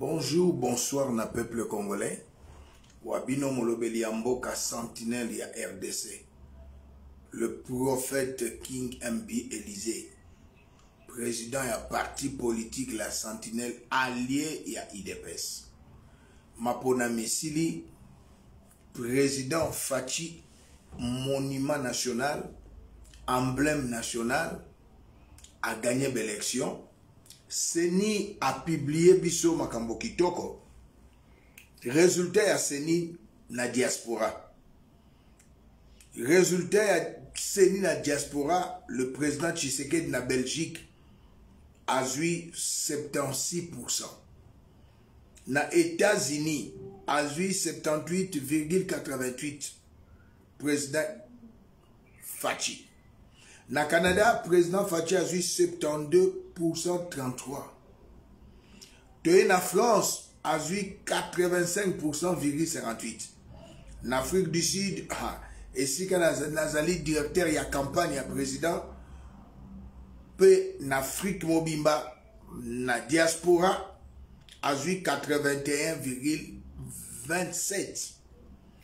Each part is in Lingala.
Bonjour, bonsoir na peuple congolais. Wabino Molobeli ya mboka sentinelle ya RDC. Le prophète King MB Élysée, président ya parti politique la sentinelle allié ya IDPS. Mapona misili président Fatshi monument national, emblème national a gagné l'élection seni apiblie biso makambo kitoko resultat ya seni na diaspora resultat ya seni na diaspora le président tshisekedi na belgique azwi 76 na états-unis azwi 78,88 président Fatshi. Na Canada, président Fatshi a eu 72% 33. Toye na France a eu 85,58. Na Afrique du Sud, ah, esika nazali directeur ya campagne ya président mpe na Afrique mobimba na diaspora azwi 81,27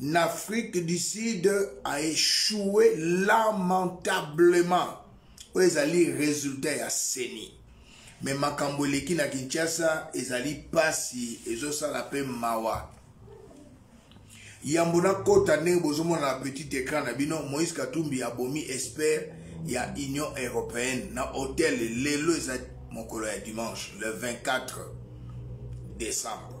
na afrique du sud a échoué lamentablement oyo ezali résultat ya seni me makambo eleki na kinshasa ezali mpasi ezosala mpe mawa yambo nakota ndenge bozomona na petit écran na bino moïse katumbi abomi expert ya union européenne na hotel lelo eza mokolo ya dimanche le 24 décembre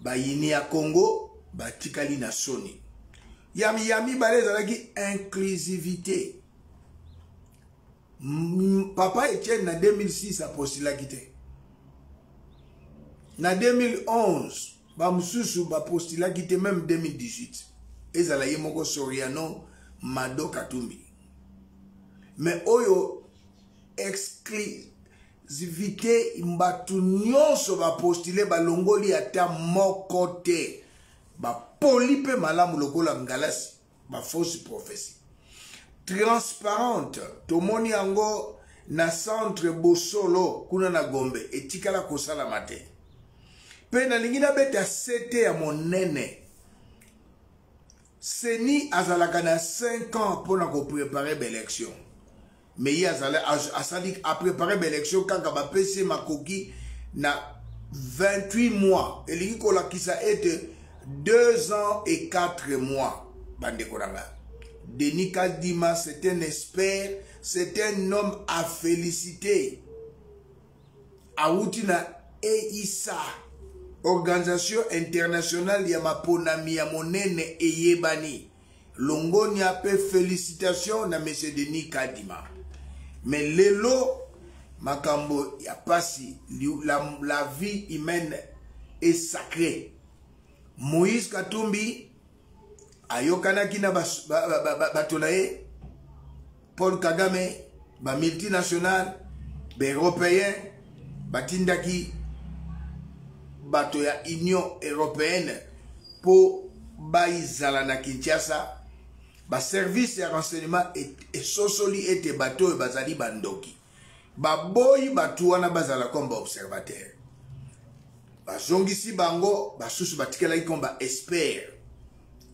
bayini ya congo batikali na soni ya, ya mibale ezalaki inclusivité papa etienne na 2006 apostilaki te na 2011 bamosusu bapostilaki te meme 2018 ezala ye moko soriano mado katumbi me oyo exclu zivite bato nyonso bapostile balongoli ata moko te bapoli mpe malamu lokola ngalasi bafausse prophesie transparente tomoni yango na centre bosolo kuna na gombe etikala kosalama te mpe nalingi nabeta sete ya monene seni azalaka na 5 ans mpo na koprepare baelection mais ye azali asali aprepare baélection kaka bapesi ye makoki na 28 mois elingi kolakisa ete 2 ans et 4 mois bandeko na ngai denis kadima c'est un expert c'est un homme à féliciter awuti na eisa organisation internationale ya maponami ya monene eyebani longonia pe felicitation na monsieur denis kadima mais lelo makambo ya pasi la, la vie humaine est sacrée moïse katumbi ayokanaki na bato na ye paul kagame bamultinationale baeuropéen batindaki bato ya union européenne mpo baizala na kinshasa baservice ya renseignement esosoli ete bato oyo bazali bandoki baboyi bato wana bazala comme baobservateur bazongisi bango basusu batikalaki comme baexpert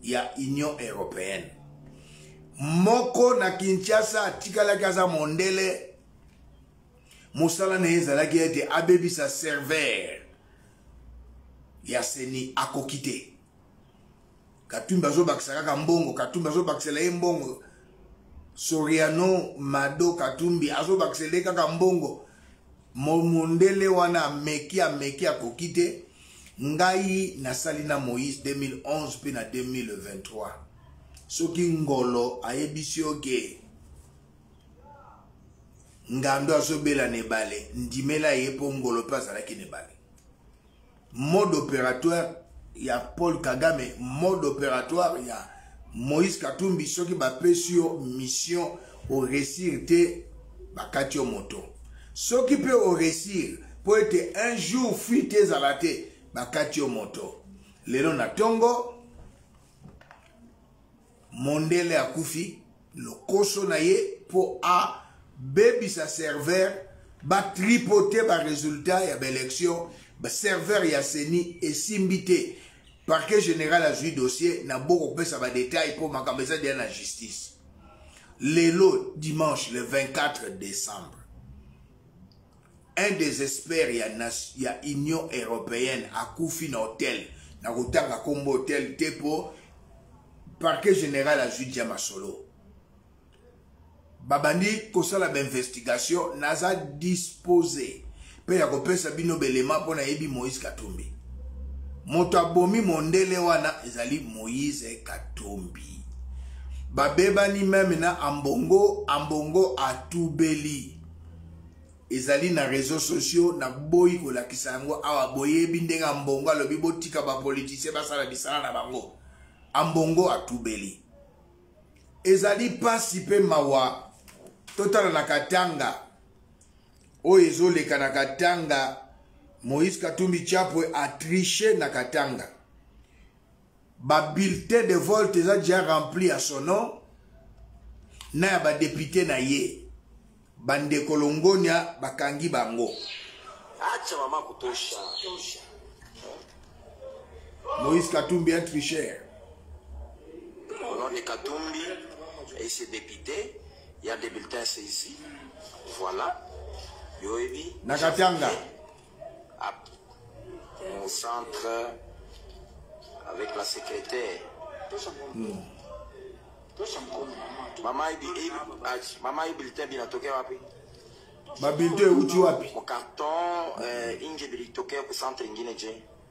ya union européenne moko na kinshasa atikalaki aza mondele mosala na ye ezalaki ete abebisa serveur ya seni akoki te katumbi azobakisa kaka mbongo katumbi azobakisela ye mbongo soriano mado katumbi azobakisela ye kaka mbongo momundele wana ameki ameki akoki te ngai nasali na moïse 2011 mpe na 2023 soki ngolo ayebisi yo ke ngando azobela na ebale ndimela ye mpo ngolo mpe azalaki na ebale mode opératoire ya paul kagame mode opératoire ya moïse katumbi soki bapesi yo mission oresir te bakati yo moto soki mpe oresir mpo ete un jour fuite ezala te bakati yo moto lelo na ntongo mondele akufi lokoso na ye mpo abebisa serveur batripote baresultat ya baelection baserveur ya seni esimbi te parquet général azwi dossier na bo kopesa badetail mpo makambo eza deya na justice lelo dimanche le 24 décembre un des experts ya, ya union européenne akufi na hotel na kotanga nkombo hotel te mpo parquet général azwi dia masolo babandi kosala bainvestigation naza dispose mpe ya kopesa bino belema mpo nayebi moïse katumbi moto abomi mondele wana ezali moïse katumbi babebani meme na ambongo ambongo atubeli ezali na réseau sociaux na boyi kolakisa yango awa boyebi ndenge ambongo alobi botika bapolitisien basala misala na bango ambongo atubeli ezali mpasi mpe mawa totala na katanga oyo ezoleka na katanga moïse katumbi chapwe atriche na katanga ba bulletin de vote eza déjà rempli à son nom na ya badepute na ye bandeko longonia bakangi bango acha mama kutosha moïse katumbi un tricheur au nom de katumbi et ses députés il y a des bulletins saisis voilà yoyebi na katanga au centre avec la secrétaire. Mm. Mama ibi mama ibi lite bina toke wapi? Ba bilde uti wapi? Mon carton euh inge bilitoke au centre ingine je.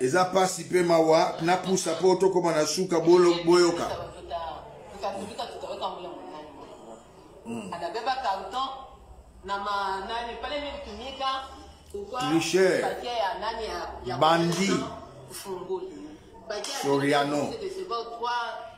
eza pasi mpe mawa na pusa mpo tokoma na suka boyoka hmm. tricher bandi soriano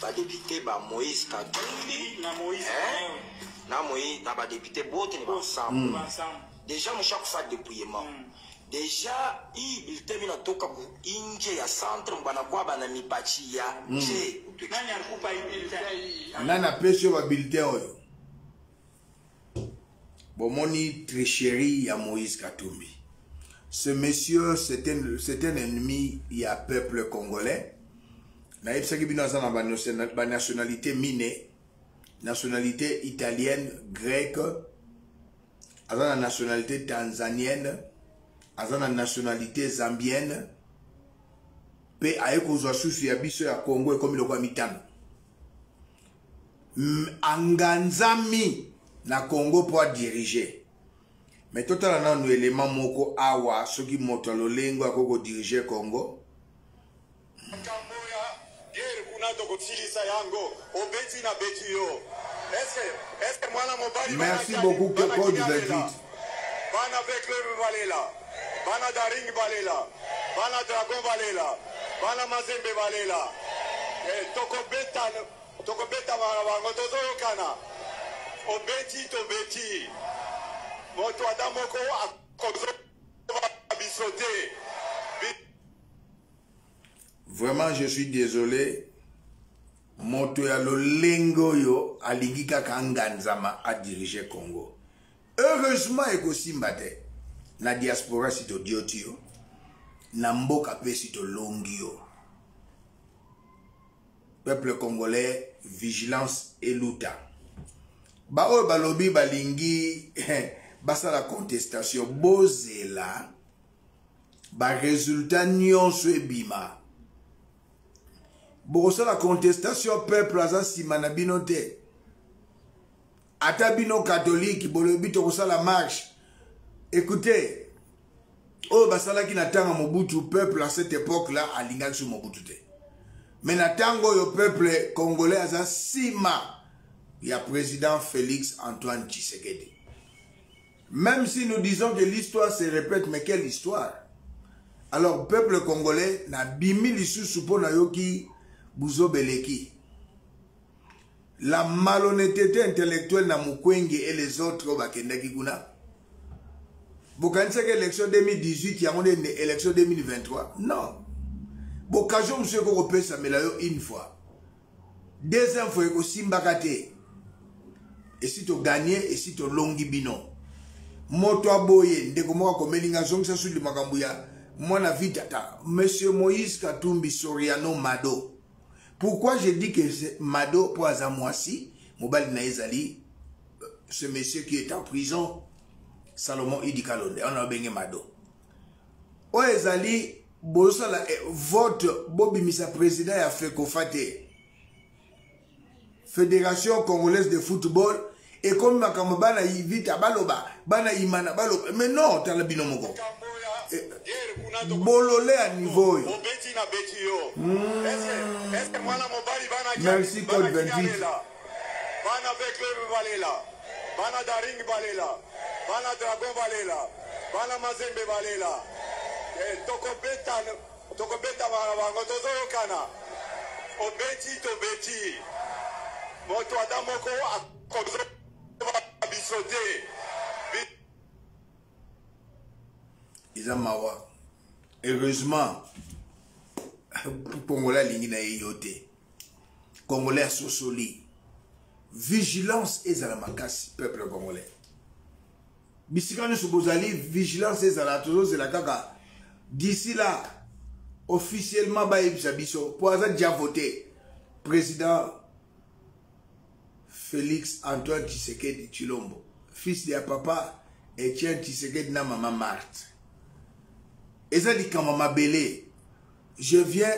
ba député ba Moïse Katumbi na Moïse hein? na Moïse na ba député bote ni ba ensemble mm. déjà mushaku fa dépouillement mm. deja hii bulletin mina toka inje ya centre mbana kwa bana mipachi ya nje mm. nani akupa hii bulletin nani apesi yo ba bulletin oyo bomoni tricherie ya moïse katumbi ce monsieur c'est un, un ennemi ya peuple congolais nayebisaki bino aza na banationalité mine nationalité italienne grecque aza na nationalité tanzanienne aza na nationalité zambienne mpe aye kozwa susu ya biso ya congo ekomi lokola mitano anganzami na congo mpo adirige me totala nanu elema moko awa soki moto ya lolengo akoki kodirige congo makambo ya gere kuna tokosilisa yango obeti na beti yo eske eske mwana mobali merci beaucoup code 28 Bana Veclub balela. Bana Daring balela. Bana Dragon balela. Bana Mazembe balela. Eh, tokobeta tokobeta bana bango tozoyokana. Obeti tobeti. Moto ata moko akozo biso te. Vraiment je suis désolé moto ya lolenge oyo alingi kaka anganzama adirige congo heureusement ekosimba te na diaspora si todioti yo na mboka mpe si tolongi yo peuple congolais vigilance eluta baoyo balobi balingi eh, basala contestation bozela baresultat nyonso ebima bokosala contestation peuple aza nsima na bino te ata bino katolike bolobi tokosala marche écoutez oyo basalaki na ntango mobutu peuple à cette époque là alingaki so mobutu te mais na ntango oyo peuple congolais aza nsima ya président félix antoine tshisekedi même si nous disons que l'histoire se répète mais quelle histoire alors peuple congolais nabimi lisusu mpo nayoki buzobeleki la malhonnetete intellectuelle na mukwenge et les autres oyo bakendaki kuna bokanisaki élection 2018 yango nde élection 2023 non bokazio mosusu eko kopesamela yo une fois deuxième fois ekosimbaka te esi toganye esi tolongi bino moto aboye ndeko moko akomeli ngai azongisa sudi makambo ya mwana vitata monsieur moïse katumbi soriano mado pourquoi je dis que mado mpo aza mwasi mobali na ye ezali euh, ce monsieur qui est en prison salomon idi kalonde wana babenge mado oyo ezali bozosala eh, vote bobimisa président ya fekofa te federation congolaise de football ekomi makambo bana ivita baloba bana imana baloba mais non tala bino moko eh, bolole ya niveau oyo hmm. merci code 28 bana beklebe balela bana daring balela bana dragon balela bana mazembe balela eh, tokobeta Tokobeta bana bango tozoyokana. Obeti tobeti. Moto ata moko akozo biso te. Eza mawa. Heureusement, Pongola alingi na ye yo te. congolais asosoli vigilance ezala makasi peuple congolais bisika nyonso bozali vigilance ezala tozozela kaka d'ici là officiellement bayebisa biso mpo aza dia vote président félix antoine tshisekedi tshilombo fils de ya papa etienne tshisekedi na mama marte eza likambo mabele je viens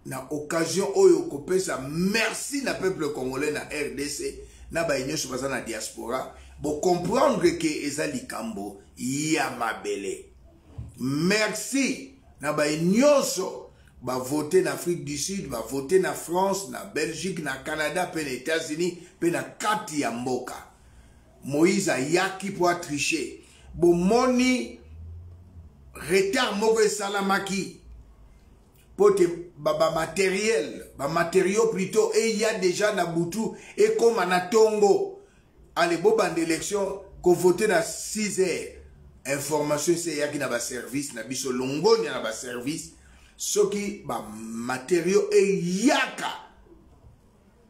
na occasion oyo kopesa merci na peuple congolais na rdc na baye nyonso baza na diaspora bocomprendre ke eza likambo ya mabele merci na baye nyonso bavote na afrique du sud bavote na france na belgique na canada mpe na états-unis mpe na kati ya mboka moïse ayaki mpo atriche bomoni retard moko esalamaki mpo te bamateriel ba bamateriaux plutôt eya déjà na butu ekóma na ntongo ale bobanda élection kovote na 6 heures information esi eyaki na baservice na biso longonya na baservice soki bamateriaux eyaka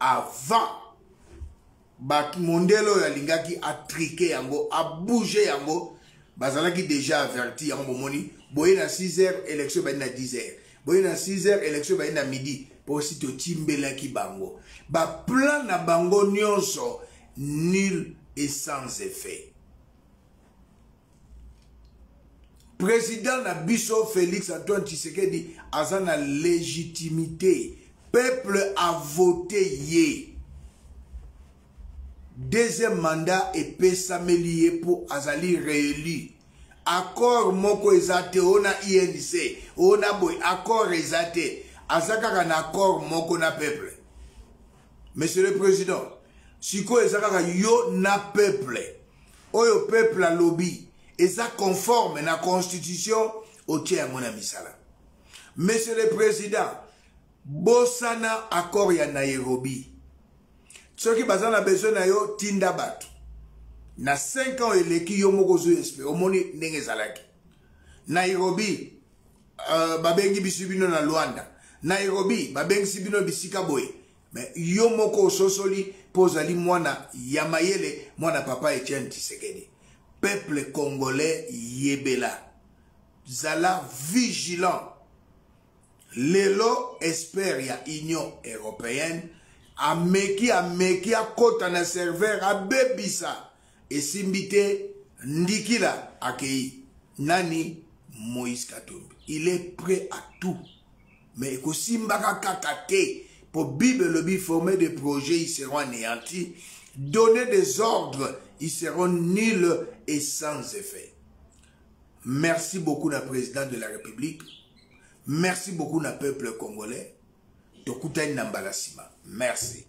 avant ba mondele oyo alingaki atrike yango abouge yango bazalaki déjà averti yango bomoni boye na 6 heures élection ebandi na 10 heures boye na 6 heures élection ebandi na midi mpo si totimbelaki bango baplan na bango nyonso nul et sans effet président na biso félix antoine tshisekedi aza na légitimité peuple a voté ye deuxième mandat epesameli ye mpo azali réélu accord moko eza te oyo na inc oyo na boye accord eza te aza kaka na accord moko na peuple monsieur le président sikoyo eza kaka yo na peuple oyo peuple alobi eza conforme na constitution otie yango na misala monsieur le président bosana accord ya nairobi soki baza na besoin na yo tinda bato na 5 ans eleki yo moko ozwi espere omoni ndenge ezalaki nairobi uh, babengi bisi bino na luanda nairobi babengisi bino bisika boye me yo moko ososoli mpo ozali mwana ya mayele mwana papa etienne tisekedi peuple congolais yebela zala vigilant lelo expert ya union européenne ameki ameki akota na serveur abebisa esimbi te ndikila akei nani moïse katumbi il est prêt à tout mais ekosimbaka kaka te mpo bible elobi forme de projet ils seront anéantis donner des ordres ils seront nuls et sans effet merci beaucoup na président de la république merci beaucoup na peuple congolais tokutani na mbala nsima merci